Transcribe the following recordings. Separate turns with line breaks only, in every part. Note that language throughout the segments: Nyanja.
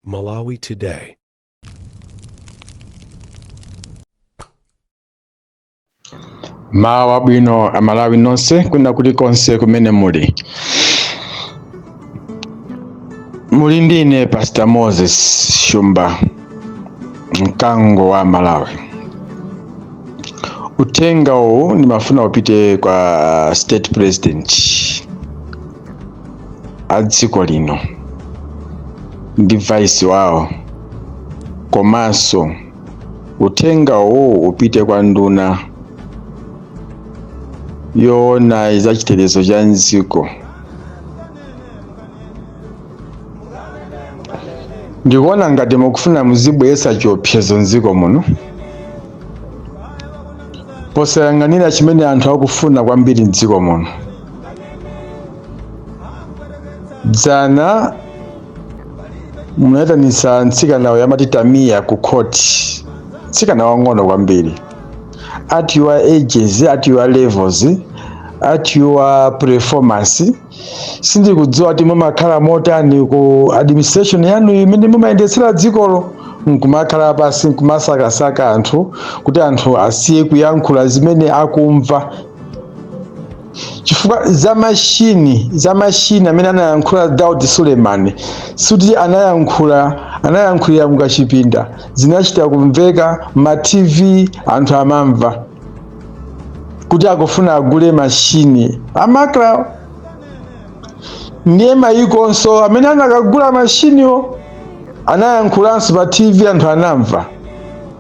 Malawi
Today. mmawa wabwino amalawi nonse kwina kulikonse kumene muli ndine pastor moses shumba mkango wa malawi uthenga uwu ndimafuna upite kwa state president a dziko lino ndi vice wawo komanso uthenga uwu upite kwa nduna yoona za chitetezo cha mdziko ndikuona ngati mukufuna muzibweretsa chiopsezo mdziko muno posayang'anira chimene anthu akufuna kwambiri mdziko muno dzana munayitanitsa mtsikana uyu amati tamiya ku khoti mtsikana wang'ono kwambiri at your ages at your levels at your performance sindikudziwa kuti mumakhala motani ku administration yanu imene mumayendetsera dzikolo nkumakhala pansi nkumasakasaka anthu kuti anthu asiye kuyankhula zimene akumva chifukwa za mashini za mashini amene anayankhula daud suleiman sikuti anayankhula anayankhulira mukachipinda zinachita kumveka ma tv anthu amamva kuti akufuna agule mashini amenewa ndiye mayikonso amene anakagula mashiniwo anayankhulanso pa tv anthu anamva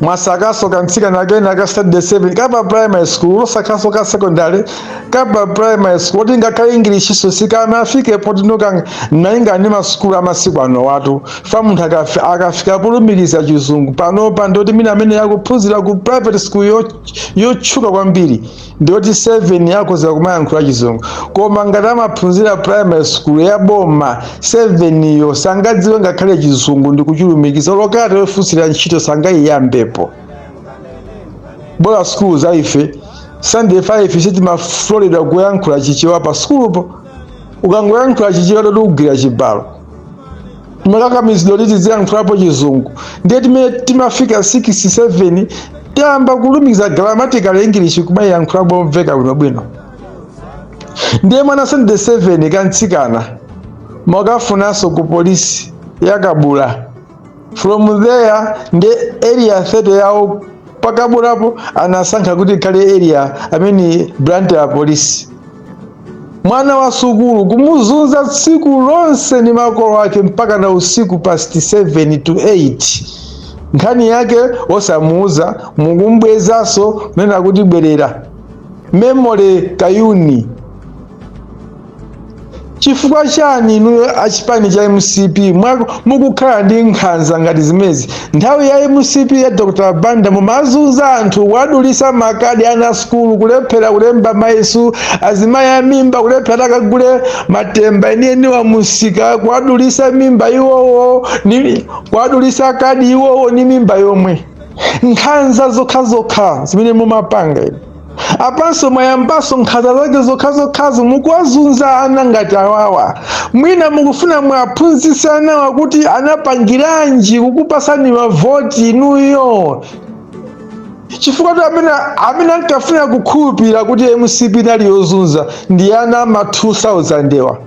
mwasakaso kamtsikana kena ka standard 7 kapa primary school osatinso ka secondary kapa primary school woti ngakhale english nso sikanafike potinotu malinga ndi masukulu amasiku anowatu chifukwa munthu akafi- akafika polumikiza chizungu panopa nde kuti mwina ameneyo akuphunzira ku private school yo- yotchuka kwambiri ndiyoti standard 7 akhoza kumayankhula chizungu koma ngati amaphunzira primary school ya boma 7 yo sangadziwe ngakhale chizungu ndi kuchilumikiza lo kalata yofunsira ntchito sangayiyambepo bola skulu za ife standard 5 sitimaloledwa kuyankhula chichewa pa skulupo ukangoyankhula chichewa ndoti ugwira chibalo timakakamizidwa kuti tiziyankhulapo chizungu ndiye mmene timafika 6 7 tayamba kulumikiza grammatical english kumayiyankhula momveka bwinobwino ndiye mwana wa standard 7 kamtsikana mwakafunanso ku polisi ya kabula from there ndi area 30 yawo pa kabulapo anasankha kuti ikhale area amene branch ya polisi mwana wa sukulu kumuzunza tsiku lonse ni makolo ake mpaka na usiku past 7 to 8 nkhani yake osamuuza mukumbwezaso nena kuti bwerera memory kayuni Chifukwa chani inuyo a chipani cha mcp mwa- mukukhala ndi nkhanza ngati zimezi? Nthawi ya mcp ya Dr Banda mumazunza anthu, kuwadulisa makadi ana sukulu, kulephera kulemba mayeso, azimayi a mimba kulephera akagule matemba enieniwa m'msika, kuwadulisa mimba iwowo, ni- kuwadulisa kadi iwowo ni mimba yomwe. Nkhanza zokhazokha zimene mumapanga inu. apanso mwayambaso nkhanza zake zokhazokhazo mukuwazunza ana ngati awawa mwina mukufuna mwaphunzitse anawa kuti anapangiranji kukupatsani mavoti inuyo chifukwa kuti amene amene ankafuna kukhulupirira kuti mcp inali yozunza ndi ana ama 2000 wa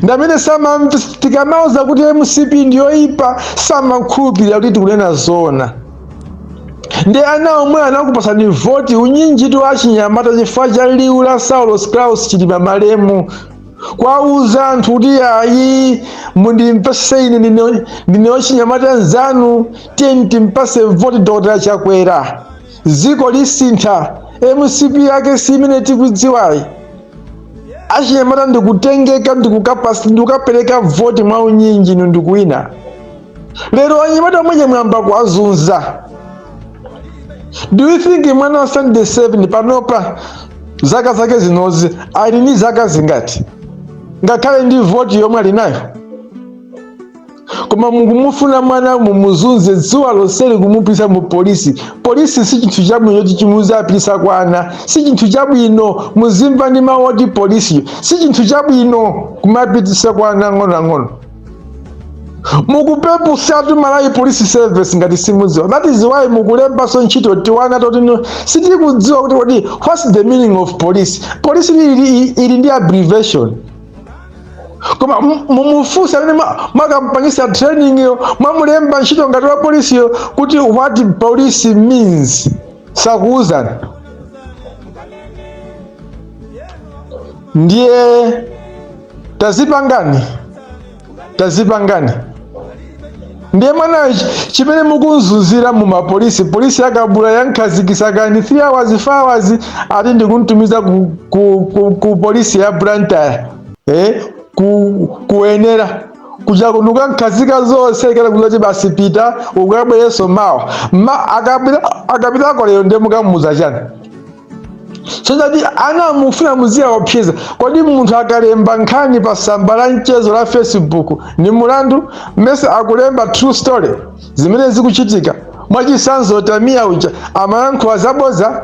ndamene sama tikamauza kuti mcp ndiyoyipa samakhulupirira kuti tikunena zona ndi ana omwe anakupatsani voti unyinji tu wa achinyamata chifukwa cha liwu la saulos klaus chilima malemu kuwauza anthu kuti ayi mundimpatse ine ndine- ndine wachinyamata nzanu tiyeni timpatse voti dr chakwera dziko lisintha mcp yake si imene tikudziwayi achinyamata ndikutengeka ndikukapasi ndikukapereka voti mwa unyinji inu ndikuwina lero anyamata omwe aja mwayamba kuwazunza do you think mwana wa standard 7 panopa zaka zake zinozi ali ni zaka zingati ngakhale ndi voti yomwe ali nayo koma mukumufuna mwana mumuzunze dzuwa lonseli kumupititsa mu polisi polisi si chinthu chabwino choti muzipititsa kwa ana si chinthu chabwino muzimva ndi mawu oti polisi si chinthu chabwino kumapititsa kwa ana ang'onoang'ono mukupeputsatu malawi police service ngati simudziwa that is why mukulembanso ntchito tiwana toti sitikudziwa kuti kodi what's the meaning of police police ili, ili, ili ndi abbreviation koma mu- mumufunse amene ma- mwakampangitsa training yo mwamulemba ntchito ngati wa polisi yo kuti what police means sakuuzani ndiye tazipangani tazipangani ndiye mwana chimene mukumzunzira mu mapolisi polisi ya kabula yamkhazikitsa kaye 3 hours 4 hours ati ndikumtumiza ku, ku, ku, ku polisi ya Blantyre eh ku wenela kuja kunkamkhazika zonse ikala kuzati basi pita ukabwereso mawa ma akapita akapitako lero ndiye mukamuuza chani so that ana mufuna muziyaopseza kodi munthu akalemba nkhani pa samba la mchezo la facebook ni mulandu mmese akulemba true story zimene zikuchitika mwachisanzo tamiya uja amayankhula zaboza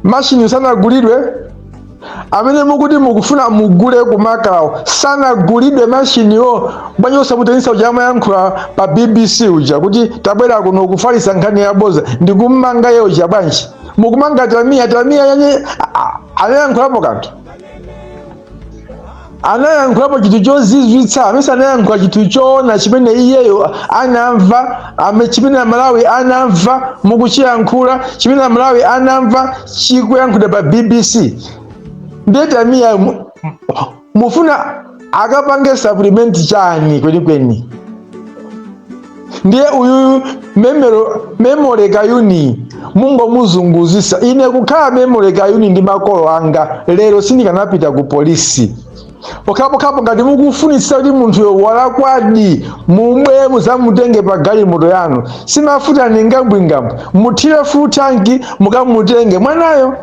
mashini sanagulidwe amene mukuti mukufuna mugule kumakawo sanagulidwe mashiniwo bwanji osamuyitanitsa uja amayankhula pa bbc uja kuti tabwera kuno kufalisa nkhani yaboza ndikummanga iye uja bwanji mukumanga tamiya tamiya yani anayankhulapo kanthu anayankhulapo chinthu chozizwitsa amese anayankhula chinthu choona chimene iyeyo anamva ame chimene amalawi anamva mukuchiyankhula chimene amalawi anamva chikuyankhula pa bbc nde tamiya mufuna akapange supplement chani kwenikweni ndiye uyu memo memory kayuni mungomuzunguzisa ine kukhala memory kayuni ndi makolo anga lero sindikanapita ku polisi pokhapokhapo ngati mukufunitsitsa kuti munthuyo walakwadi mubwere muzamutenge pa galimoto yanu simafuta ni ngwambingwambi muthire full tanki mukamutenge mwanayo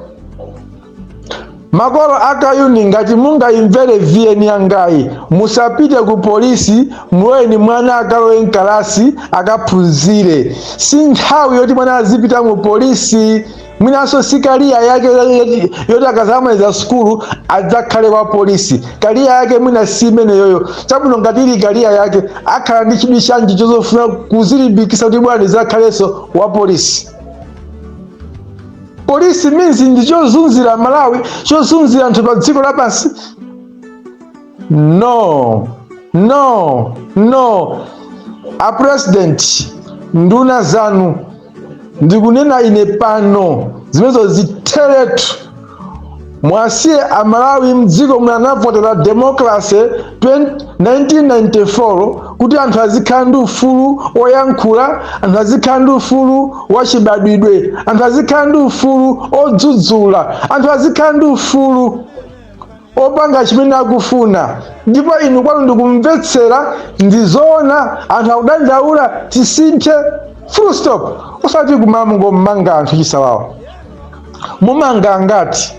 Makolo a Kayuni ngati mungayimvere VN yangayi musapite ku polisi muloleni mwana akalowe mkalasi akaphunzire. Si nthawi yoti mwana azipita mu polisi mwinanso si kariya yake yoti- yoti akazamaliza sukulu adzakhale wa polisi. Kariya yake mwina si imeneyoyo. Chabwino ngati ili kariya yake akhala ndi chidwi chanji chozofuna kuzilimbikitsa kuti mwina ndizakhalenso wa polisi. polisi means ndi chozunzira amalawi chozunzira anthu pa dziko lapansi no no no a president nduna zanu ndikunena ine pano zimenezo zitheretu Muwasiye a Malawi mdziko muno anavotera democracy 1994 kuti anthu azikhala ndi ufulu oyankhula, anthu azikhala ndi ufulu wachibadwidwe, anthu azikhala ndi ufulu odzudzula, anthu azikhala ndi ufulu opanga chimene akufuna ndipo inu kwanu ndikumvetsera nkuwona anthu akudandaula tisinthe full stop osati kumangomanga anthu chisawawa mumanga angati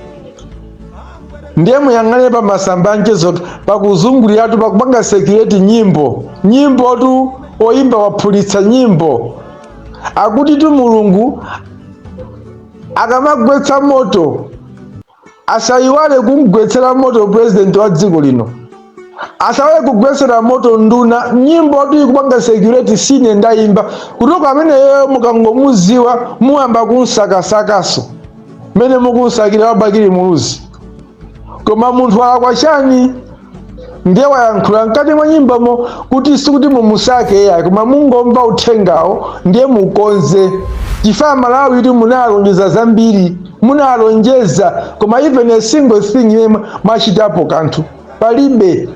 ndiye muyang'ane pa masamba a mchezo pakuzunguliratu pakupanga circulate nyimbo nyimbotu oyimba waphulitsa nyimbo akutitu mulungu akamagwetsa moto asayiwale kumgwetsera moto purezidenti wa dziko lino asaiwale kugwetsera moto nduna nyimbotu ikupanga circulate sine ndayimba kutoka amene yeyo mukangomuziwa muyamba kumsakasakanso mmene mukumsakira wa Bakili Muluzi koma munthu walakwa chani ndiye wayankhula mkati mwa nyimbomo kuti sikuti mumusake iyayi koma mungomva uthengawo ndiye mukonze chifukwa amalawi akuti munalonjeza zambiri munalonjeza koma even a single thing yomwe mwachitapo kanthu palibe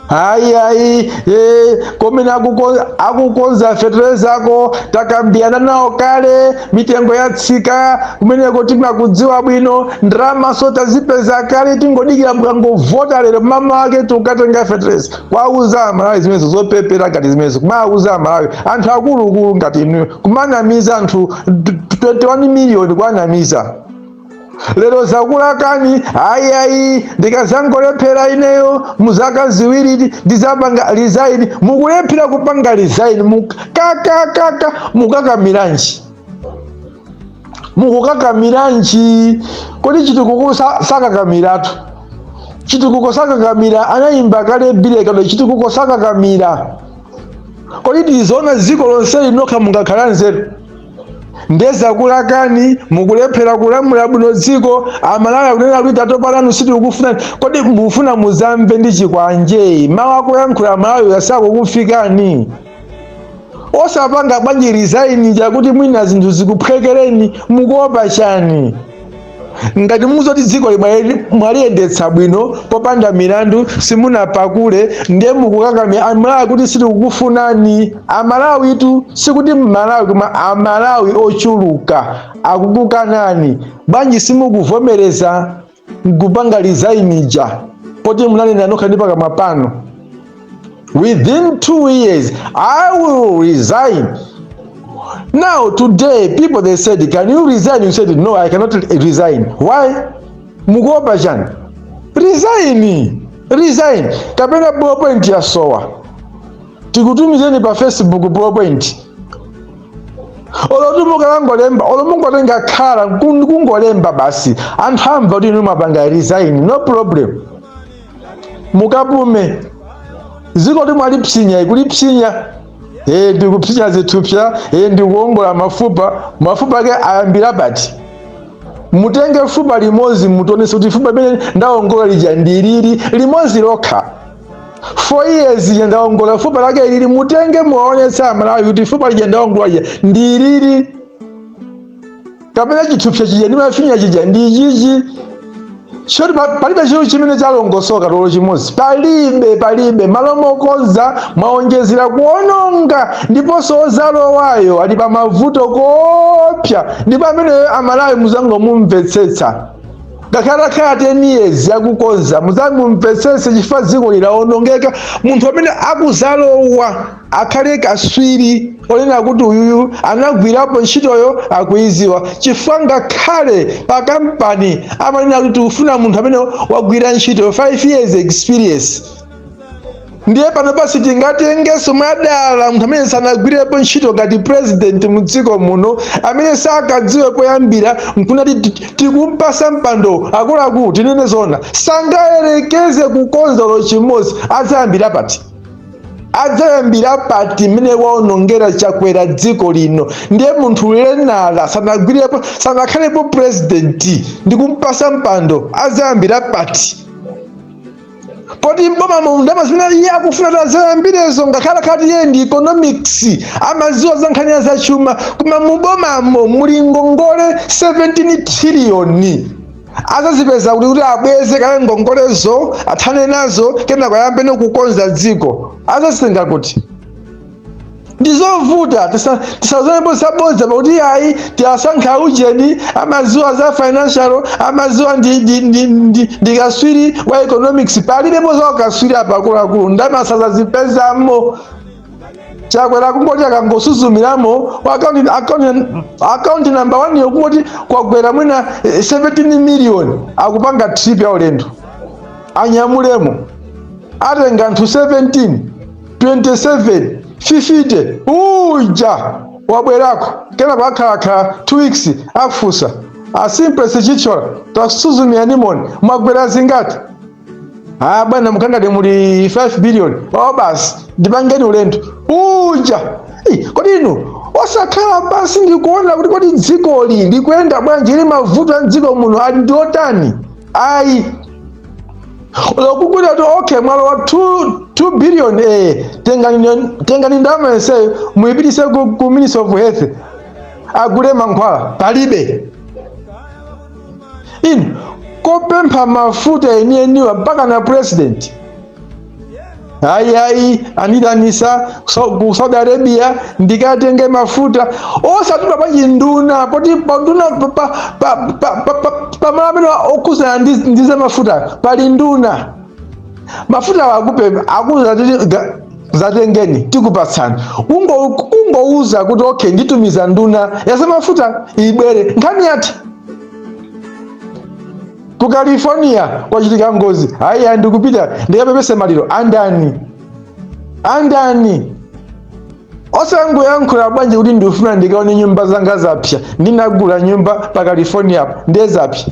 ayi ayi eh, kumene akuko- akukonza fetereza ako takambirana nawo kale mitengo yatsika kumeneko timakudziwa bwino ndalamanso tazipeza kale tingodikira mukangovota lero mmawa wake tikukatenga fetereza kuwauza amalawi zimenezo zopepera ngati zimenezo kumauza amalawi anthu akuluakulu ngati inuyo kumanamiza anthu 21 miliyoni kuwanamiza lero zakulakani ayi ayi ndikazangolephera ineyo muzaka ziwiri ndizapanga resign mukulephera kupanga resign mukakakaka mukakamiranji mukukakamiranji kodi chitukuko sa- sakakamiratu chitukuko sakakamira anayimba kale Billy Kaunda chitukuko sakakamira kodi ndi zoona dziko lonseli nokha mungakhale nzeru nde zakulakani mukulephera kulamula bwino dziko amalawi akunena kuti tatopa nanu sitikukufunani kodi mukufuna muzamve ndi chikwanje mawu akuyankhula amalawi sakukufikani osapanga bwanji resign ija kuti mwina zinthu zikuphwekereni mukuopa chani ngati mukudziwa kuti dzikoli mwaliyendetsa bwino popanda milandu simunapakule ndiye mukukakamira amalawi akuti sitikukufunani amalawitu sikuti mmalawi koma amalawi ochuluka akukukanani bwanji simukuvomereza nkupanga resign ija poti munanena nokha ndi pakamwa panu Within two years, I will resign. Now, today, people they said, Can you resign? You said, No, I cannot resign. Why? Mukuopa chani? Resign. Resign. Kapena ballpoint yasowa. Tikutumizeni pa Facebook ballpoint. olotu mukangolemba olo mungotenga khala kungolemba basi anthu amva kuti inu mwapanga resign no problem mukapume dzikotu mwalipsinya kulipsinya e, ndikupsinya zithupsa e, ndikuongola mafupa mafupa ake ayambira pati mutenge fupa limodzi mutionetse kuti fupa limene ndaongola lija ndilili limodzi lokha four years ija ndaongola fupa lake ilili mutenge muwaonetse amalawi kuti fupa lija ndaongola lija ndilili kapena chithupsa chija ndi mafinya chija ndi chichi choti palibe chilichonse chimene chalongosoka olo chimodzi palibe palibe mmalo mokonza mwaonjezera kuononga ndiponso ozalowayo ali pa mavuto oopsa ndipo ameneyo aMalawi muzangomumvetsetsa ngakhale atakhala 10 years yakukonza muzangomumvetsetse chifukwa dziko lino lawonongeka munthu amene akuzalowa akhale kaswiri onena kuti uyuyu anagwirapo ntchitoyo akuyidziwa chifukwa ngakhale pa kampani amanena kuti tikufuna munthu amene wagwira ntchito 5 years experience ndiye pano pansi tingatengenso mwadala munthu amene sanagwirepo ntchito ngati president mu dziko muno amene sakadziwe poyambira nkunati ti- tikumpatsa mpando akuluakulu tinene zona sangayerekeze kukonza olo chimodzi azayambira pati adzayambira pati mmene waonongera Chakwera dziko lino ndiye munthu wina sanagwirepo sanakhalepo purezidenti ndi kumpatsa mpando adzayambira pati poti mbomamu ndalama zimene iye akufuna kuti azayambirezo ngakhale atakhala kuti iye ndi economics amaziwa za nkhani ya zachuma koma mubomamo muli ngongole 17 triliyoni azazipeza kuti kuti abweze kale ngongolezo athane nazo kenako ayambeno kukonza dziko azazitenga kuti ndizovuta tisazonenepo zabodza apa kuti ayi tasankha ujeni amaziwa za financial amaziwa ndi, ndi, ndi, ndi, ndi kaswiri wa economics palibepo za ukaswiri apa akuluakulu ndalama sazazipezamo Chakwera kungoti akangosuzumiramo akaunti namba wani yokungoti kwagwera mwina eh, 17 miliyoni akupanga trip ya ulendo anyamulemo atenga anthu 17 27 50 uja wabwerako kenako akhalakhala 2 weeks akufunsa asimplesi chichola takusuzumiranimoni mwagwera zingati ah bwana mkatimu muli 5 billion oh basi ndipangeni ulendo uja Ih, kodi inu osakhala pansi ndikuona kuti kodi dzikoli likuyenda bwanji ili mavuto a mdziko muno ali ndi otani ayi olo kungoti okay mwalowa 2 2 billion eh tengani tengani ndalama yonseyo muyipitise ku, ku ministry of health agule mankhwala palibe inu kopempha mafuta enieniwa mpakana president ayi ayi andiitanitsa so- ku Saudi Arabia ndikatenge mafuta osatuma nduna poti panduna pamala amene okhudzana ndi ndi za mafuta pali nduna mafuta wa akupe akuuza kuti ga- zatengeni tikupatsani Kungo- kungouza kuti okay nditumiza nduna ya za mafuta ibwere nkhani yati ku california kwachitika ngozi ayi ayi ndikupita ndikapepese maliro andani andani osangoyankhula bwanji kuti ndifuna ndikaone nyumba zanga zapsa ndinagula nyumba pa california apo ndiye zapsa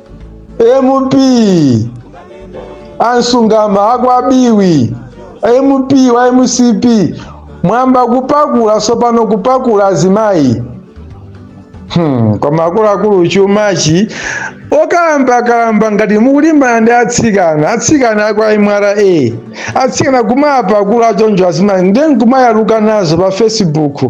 mp a msungama a kwa biwi mp wa mcp mwayamba kupakula sopano kupakula azimayi hmm, koma akuluakulu chumachi okalamba-kalamba ngati mukulimbana ndi atsikana atsikana a kwa mra atsikana kumapakula choncho azimayi ndiye nkumayaluka nazo pa facebook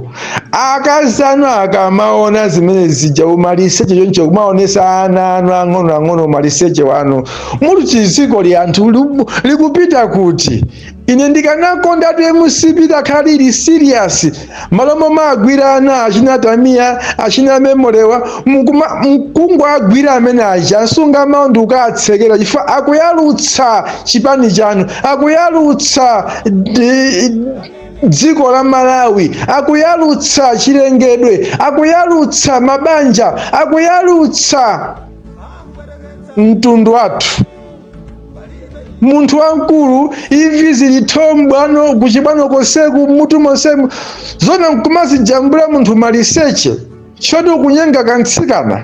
akazi anu akamaona zimene zija umaliseche choncho kumaonesa ana anu ang'ono ang'ono umaliseche wanu muli chidziko ili anthu libu- likupita kuti ine ndikanakonda kuti mcp likhale ili serious malo momwe agwira ana achina tamiya achina memorewa mukuma- mkungu agwira amene uja a msungama ndi kukawatsekera chifukwa akuyalutsa chipani chanu akuyalutsa di- dziko la Malawi, akuyalutsa chilengedwe, akuyalutsa mabanja, akuyalutsa mtundu wathu. Munthu wamkulu imvi zili thoo mbwano kuchibwano konseku mutu monsemu zona nkumazijambula munthu maliseche choti ukunyenga kamtsikana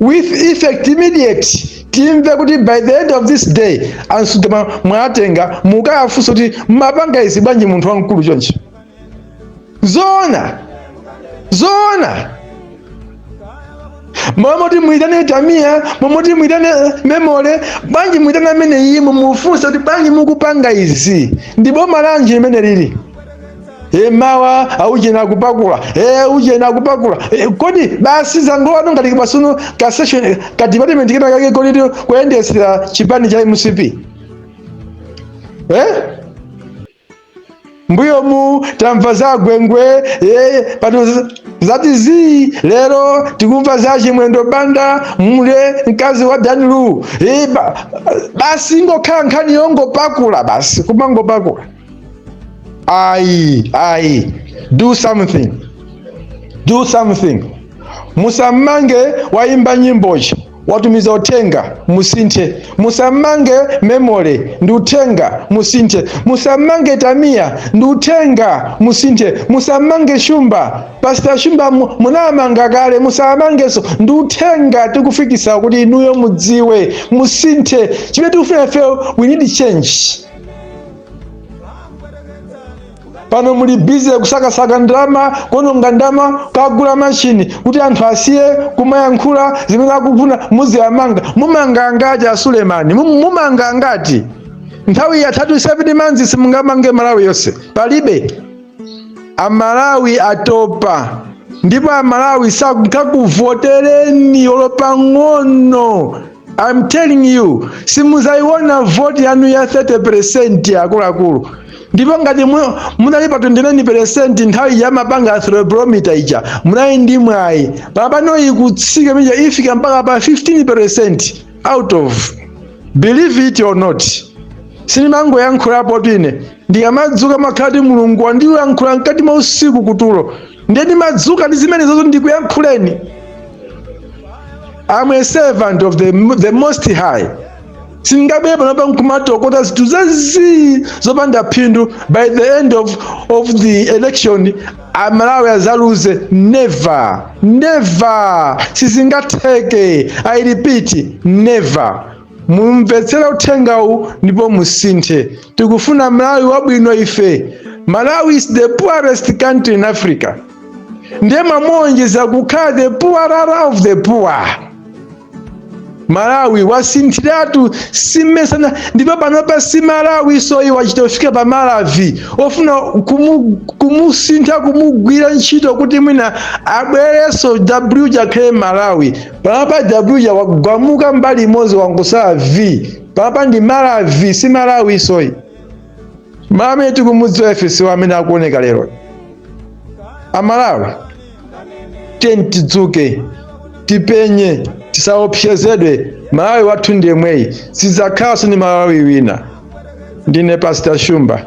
with effect immediate timve kuti by the end of this day a msungama mwawatenga mukawafunse kuti mmapanga izi bwanji munthu wamkulu chonchi zoona zoona momoti muitane tamiya momoti muitane memole bwanji muitane amene uyu mumufunse kuti bwanji mukupanga izi ndi boma lanji limene lili e mawa auje naye akupakula e uje naye akupakula e, kodi basi zangolowa ngati pa sono ka session ka department kena kake kodi kuyendetsera chipani cha mcp eh? mbuyo mu tamva za gwengwe eh, pano z- zati zii lero tikumva za a chimwendo banda mule mkazi wa danilu eh, ba, basi ngokhala nkhani yongopakula basi kumangopakula ayi ayi do something do something musamange woyimba nyimbozi watumiza uthenga musinthe musamange memory ndi uthenga musinthe musamange tamiya ndi uthenga musinthe musamange shumba Pastor shumba mu- munamanga kale musamangenso ndi uthenga tikufikisa kuti inuyo mudziwe musinthe chimene tikufuna ifeyo we need change pano muli busy kusakasaka ndalama kuononga ndalama kagula mashini kuti anthu asiye kumayankhula zimene akufuna muziyamanga mumanga angati asulemani Mum- mumanga angati nthawi yathatu 7 months simungamange malawi yonse palibe amalawi atopa ndipo amalawi sakuvotereni olopang'ono I'm telling you simuzaiona voti yanu ya 30% akuluakulu ndipo ngati mu- munali pa 29% nthawi ya amapanga Afrobarometer ija munali ndi mwayi pano ikutsika ija ifika mpaka pa 15% out of believe it or not sindimangoyankhulapotu ine Ndikamadzuka makhala kuti Mulungu wandiyankhula mkati mwa usiku kutulo, ndiye ndimadzuka ndi zimenezozo ndikuyankhuleni. I'm a servant of the, the most high. Sindingabwere panopa nkumatokota zinthu zazii zopanda phindu by the end of, of the election amalawi azaluze never never sizingatheke i repeat never mumvetsere uthengawu ndipo musinthe tikufuna malawi wabwino ife malawi is the poorest country in africa ndiye mwamuonjeza kukhala the poorer of the poor malawi wasinthiratu si masana ndipo panopa si malawinso ayi wachita kufika pa malavi ofuna kumu, kumusintha kumugwira ntchito kuti mwina abwerenso w ija akhale malawi panopa w ija wagumuka mbali imodzi wangotsala v panopa ndi malavi si malawinso ayi malawi tikumudziwa ife si amene akuoneka lero amalawi tiyeni tidzuke tipenye tisaopsezedwe malawi wathu ndi yemweyu sidzakhalanso ndi malawi wina ndine pastor shumba